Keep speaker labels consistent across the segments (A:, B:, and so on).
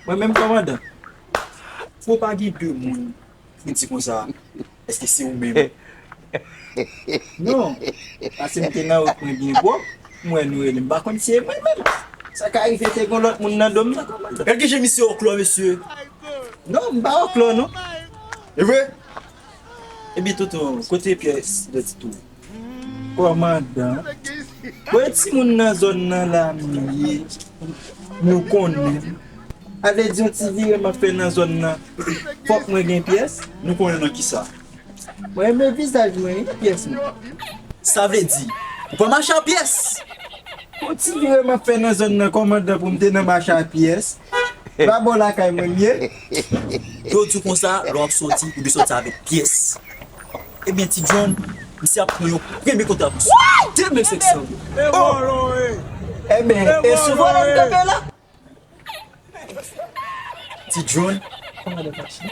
A: Mwen menm kòmandan, fò pa gen 2 moun pou di konsa, èske se ou menm? Non, pase m te nan wout mwen byen gwo, m wè nou rele m pa konn si e mwen menm. Sa ka rive te gen lòt moun nan do m nan kòmandan. Gad ki je misye òklò mesye. Non, m pa òklò non. Evre? Ebyen tonton kote pyès dòti tou. Kòmandan Mwen ti moun nan zòn nan la mwen ye nou konnen m sa vle di yon ti vire map fè nan zòn nan fòk mwen gen pyès? Nou konnen nan kisa? Mwen renmen vizaj mwen wi pyès mwen. Sa vle di ou pa mache a pyès? Yon ti vire map fè nan zòn nan kòmandan pou m te nan mache a pyès. Ba bò lakay mwen li ye. Dlo di w konsa lè w ap soti ou dwe soti avèk pyès. Ebyen ti John, misye ap pran yon premye kontravansyon. 2500 goud! Oh! Ebyen e sou vòlò m tonbe la? Ti John, kòmandan Tachi.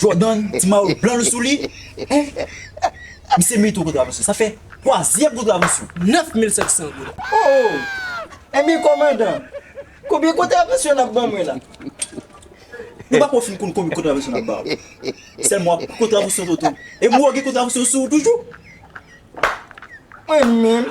A: Jordan ti mayo blan l sou li eh misye meriton kontravansyon sa fè twazyèm kontravansyon 9700 goud ooh enben kòmandan konbyen kontravansyon nap ban mwen la mwen pako fin konn konbyen kontravansyon nap baw sèlman wap pran kontravansyon toto e mwen wè w gen kontravansyon sou w toujou mwen menm.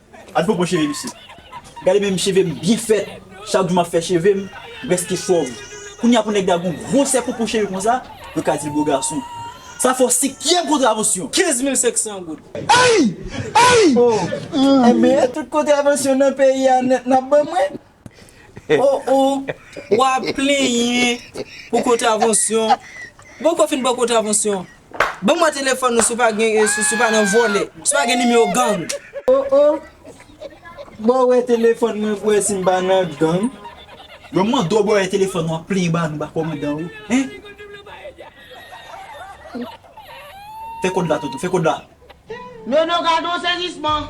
A: Ad fo bon cheve misye. Gade menm chevem byen fèt chak jou map fè chevem mpreske chòv kounya pou nèg la gon gro sè poupou cheve konsa yo ka dil bo gason sa fò sikyèm kontravansyon 15 mil 500 goud ayy ayy ooh enben tout kontravansyon nan peyi a nèt nap ban mwen Oh oh wap plenyen pou kontravansyon bon ko fin bon kontravansyon ban mwen telefòn ou si w pa gen si w pa nan vòlè si w pa gen nimewo gang. Oh oh boo wè telefòn mwen pou wè si m pa nan gang. Mwen mande w boo wè telefòn wap plenyen ba nou ba kòmandan ou hein fè kòd la tonton fè kòd la. Nono
B: gad on sezisman.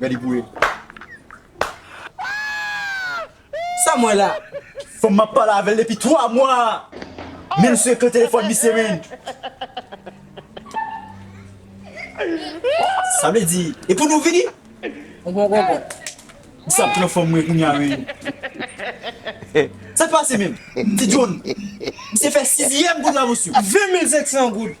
A: Ready pou e. Sa m wè la? Fanm map pale avèl depi 3 mwa a menm sou ekran telefòn misye menn. Sa vle di e pou nou vini? Ou gon gongon. M sa pran fanm mwen kounya menn. Sak pase menm? Ti John. Misye fè sizyèm goud la mosyo. 20 mil 500 goud.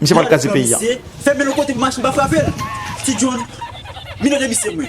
A: Misye pat kraze
C: peyi a. Fèmen yon kote pou
A: machin pa frapel Ti John Mine de misye mwen.